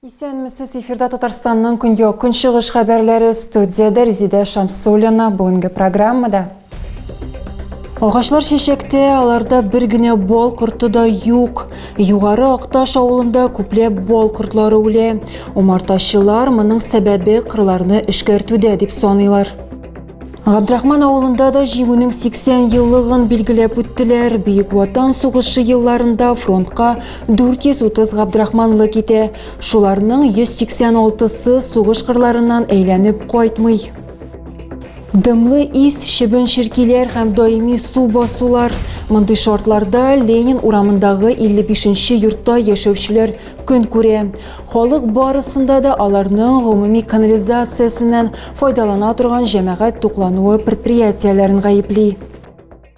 Исәнмесез, эфирда Татарстанның көньяк көнчыгыш хәбәрләре студияда Резидә Шамсулина бүгенге программада. Агачлар чәчәктә, аларда бер генә бал корты да юк. Югары Акташ авылында күпләп бал кортлары үлә. Умартачылар моның сәбәбе кырларны эшкәртүдә дип саныйлар. Габдрахман авылында да җиңүнең 80 еллыгын билгеләп үттеләр. Бөек Ватан сугышы елларында фронтка 430 Габдрахманлы китә. Шуларның 186-сы сугыш кырларыннан әйләнеп кайтмый. Дымлы ис, шибен ширкиләр һәм даими су басулар. Мондый шартларда Ленин урамындагы 55-нче йортта яшәүчеләр көн күрә. Халык барысында да аларның гомуми канализациясеннән файдалана торган җәмәгать туклануы предприятиеләрен гаепли.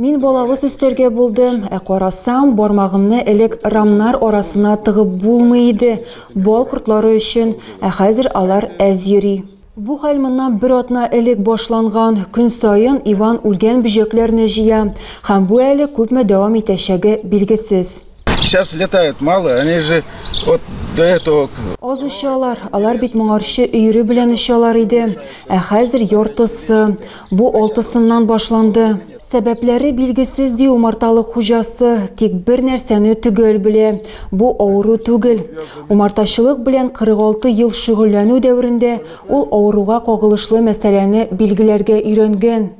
Мин балавыз өстәргә булдым, ә карасам, бармагымны элек рамнар арасына тыгып булмый иде, бал кортлары өчен, ә хәзер алар әз йөри. Бу хәл моннан бер атна элек башланган. Көн саен Иван үлгән бөҗәкләрне җыя һәм бу әле күпме дәвам итәчәге билгесез. Сейчас летает мало, они же вот до этого... Аз очалар, алар бит моңарчы өйрі белән очалар иде. Ә хәзер яртысы, бу алтысыннан башланды. Сәбәпләре билгесез ди умарталы хуҗасы, тик бер нәрсәне төгәл белә. Бу авыру түгел. Умартачылык белән 46 ел шөгыльләнү дәверендә ул авыруга кагылышлы мәсьәләне билгеләргә өйрәнгән.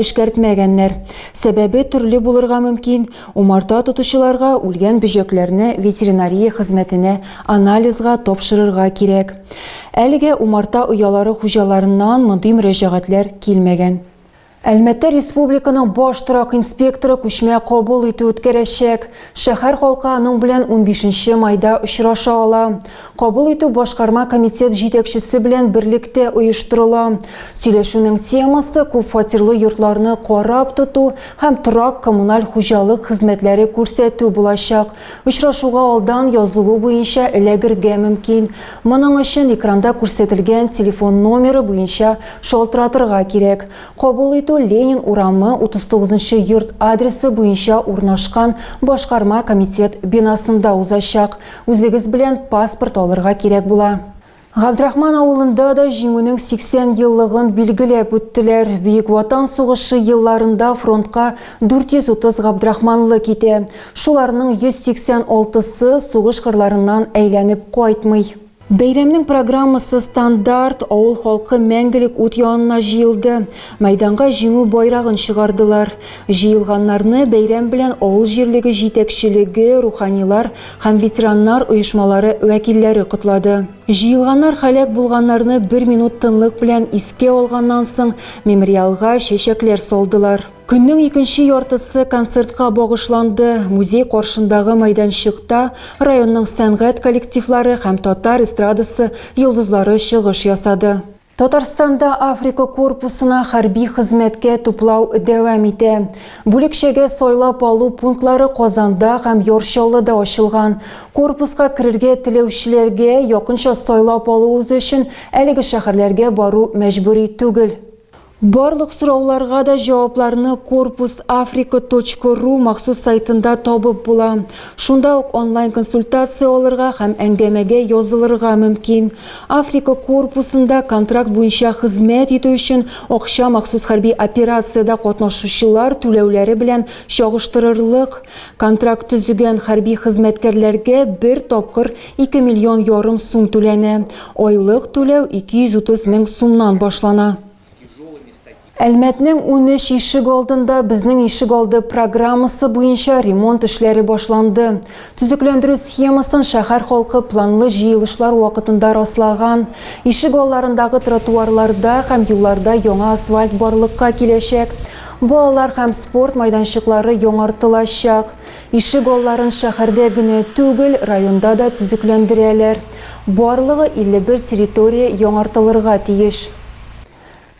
Эшкәртмәгәннәр. Сәбәбе төрле булырга мөмкин, умарта тотучыларга үлгән бөҗәкләрне ветеринария хезмәтенә анализга тапшырырга кирәк. Әлегә умарта оялары хуҗаларыннан мондый мөрәҗәгатьләр килмәгән. Әлмәттә республиканың баш торак инспекторы күчмә кабул итү үткәрәчәк. Шәһәр халкы аның белән унбишенче майда очраша ала. Кабул итү башкарма комитет җитәкчесе белән берлектә оештырыла. Сөйләшүнең темасы күп фатирлы йортларны карап тоту һәм торак-коммуналь хуҗалык хезмәтләре күрсәтү булачак. Очрашуга алдан язылу буенча эләгергә мөмкин. Моның өчен экранда күрсәтелгән телефон номеры буенча шалтыратырга кирәк. Кабул итү Ленин урамы 39 нчы йорт адресы буенча урнашкан башкарма комитет бинасында узачак. Үзегез белән паспорт алырга кирәк була. Габдрахман авылында да Җиңүнең 80 еллыгын билгеләп үттеләр. Бөек Ватан сугышы елларында фронтка 430 габдрахманлы китә. Шуларның 186 сы сугыш кырларыннан әйләнеп кайтмый. Бәйрәмнең программасы стандарт, авыл халкы мәңгелек ут янына җыелды, мәйданга Җиңү байрагын чыгардылар. Җыелганнарны бәйрәм белән авыл җирлеге җитәкчелеге, руханилар һәм ветераннар оешмалары вәкилләре котлады. Җыелганнар һәлак булганнарны бер минут тынлык белән искә алганнан соң, мемориалга чәчәкләр салдылар. Көннең икенче яртысы концертка багышланды. Музей каршындагы мәйданчыкта районның сәнгать коллективлары һәм татар эстрадасы йолдызлары чыгыш ясады. Татарстанда Африка корпусына хәрби хезмәткә туплау дәвам итә. Бүлекчәгә сайлап алу пунктлары Казанда һәм Яр Чаллыда ачылган. Корпуска керергә теләүчеләргә якынча сайлап алуыгыз өчен әлеге шәһәрләргә бару мәҗбүри түгел. Барлык сорауларга да җавапларны korpusafrica.ru махсус сайтында табып була. Шунда ук онлайн консультация алырга һәм әңгәмәгә язылырга мөмкин. Африка корпусында контракт буенча хезмәт итү өчен акча махсус хәрби операциядә катнашучылар түләүләре белән чагыштырырлык. Контракт төзегән хәрби хезмәткәрләргә бер тапкыр Ике миллион ярым сум түләнә. Айлык түләү 230 мең сумнан башлана. Әлмәтнең унөч ишек алдында безнең ишек алды программасы буенча ремонт эшләре башланды. Төзекләндерү схемасын шәһәр халкы планлы җыелышлар вакытында раслаган. Ишек алларындагы тротуарларда һәм юлларда яңа асфальт барлыкка киләчәк. Балалар һәм спорт майданчыклары яңартылачак. Ишек алларын шәһәрдә генә түгел, районда да төзекләндерәләр. Барлыгы 51 территория яңартылырга тиеш.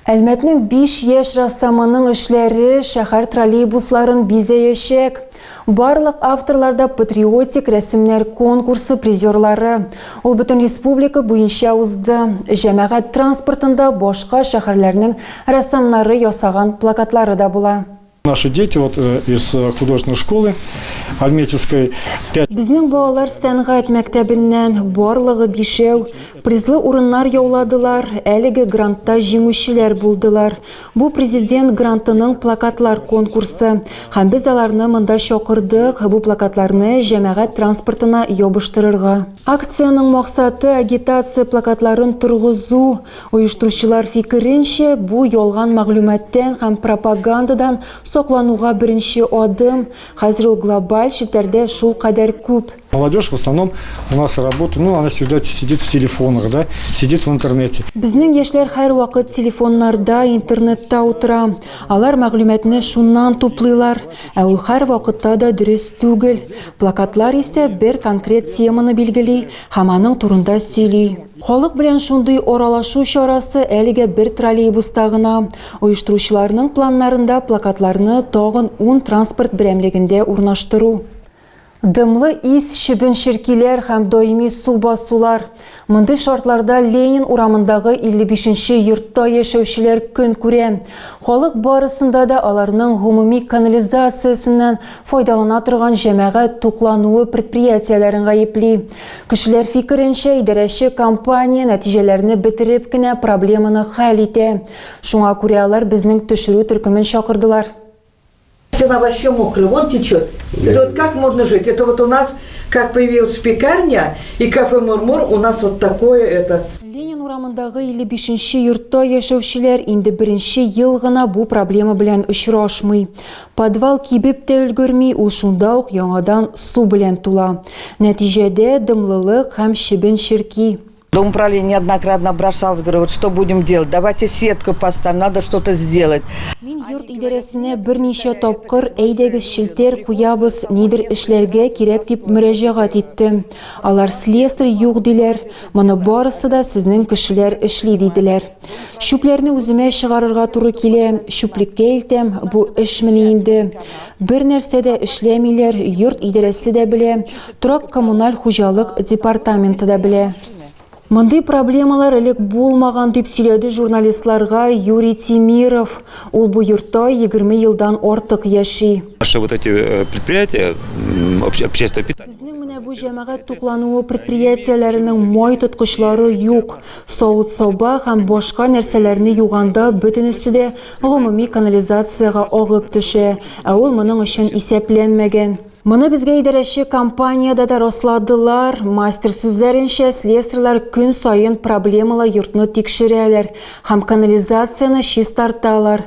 Әлмәтнең биш яшь рәссамының эшләре шәһәр троллейбусларын бизәячәк. Барлык авторлар да патриотик рәсемнәр конкурсы призерлары. Ул бөтен республика буенча узды. Җәмәгать транспортында башка шәһәрләрнең рәссамнары ясаган плакатлары да була. Наши дети вот э, из э, художественной школы Альметьевской. Безнең балалар сәнгать мәктәбеннән барлыгы бишәү призлы урыннар яуладылар, әлеге грантта җиңүчеләр булдылар. Бу президент грантының плакатлар конкурсы. Һәм без аларны монда чакырдык, бу плакатларны җәмәгать транспортына ябыштырырга. Акциянең максаты агитация плакатларын торгызу, Оештыручылар фикеренчә, бу ялган мәгълүматтан һәм пропагандадан саклануга беренче адым. Хәзер ул глобаль челтәрдә шулкадәр күп. Молодежь в основном у нас работа, ну она всегда сидит в телефонах, да, сидит в интернете. Безнең яшьләр һәрвакыт телефоннарда, интернетта утыра. Алар мәгълүматны шуннан туплыйлар. Ә ул һәрвакытта да дөрес түгел. Плакатлар исә бер конкрет теманы билгели һәм аның турында сөйли. Халык белән шундый аралашу чарасы әлегә бер троллейбуста гына. Оештыручыларның планнарында плакатларны тагын ун транспорт берәмлегендә урнаштыру. Дымлы ис, чебен-черкиләр һәм даими су басулар. Мондый шартларда Ленин урамындагы 55 нче йортта яшәүчеләр көн күрә. Халык барысында да аларның гомуми канализациясеннән файдалана торган җәмәгать туклануы предприятиеләрен гаепли. Кешеләр фикеренчә, идарәче компания нәтиҗәләрне бетереп кенә проблеманы хәл итә. Шуңа күрә алар безнең төшерү төркемен чакырдылар. Цена вообще мокрая, вон течет. Это вот как можно жить? Это вот у нас как появилась пекарня и кафе Мурмур, у нас вот такое это. Ленин урамындагы 55 нче йортта яшәүчеләр инде беренче ел гына бу проблема белән очрашмый. Подвал кибеп тә өлгерми, ул шунда ук яңадан су белән тула. Нәтиҗәдә, дымлылык һәм чебен черки. Домуправление неоднократно обращалось, говорю, вот что будем делать, давайте сетку поставим, надо что-то сделать. Мин йорт идарәсенә берничә тапкыр, әйдәгез челтәр куябыз, нидер эшләргә кирәк дип мөрәҗәгать иттем. Алар слесарь юк диләр, моны барысы да сезнең кешеләр эшли диделәр. Чүпләрне үземә чыгарырга туры килә, чүплеккә илтәм, бу эшмени инде. Бер нәрсә дә эшләмиләр, йорт идарәсе дә белә, торак-коммуналь хуҗалык департаменты да белә. Мондый проблемалар элек булмаган, дип сөйләде журналистларга Юрий Тимиров. Ул бу йортта 20 елдан артык яши. Наши вот эти э, предприятия, общественное питание. Безнең менә бу җәмәгать туклануы предприятиеләренең май тоткычлары юк. савыт-саба һәм башка нәрсәләрне юганда бөтенесе дә гомуми канализациягә агып төшә, ә ул моның өчен исәпләнмәгән. Моны безгә идарәче компаниядә дә расладылар. Мастер сүзләренчә, слесарьлар көн саен проблемалы йортны тикшерәләр һәм канализацияне чистарталар.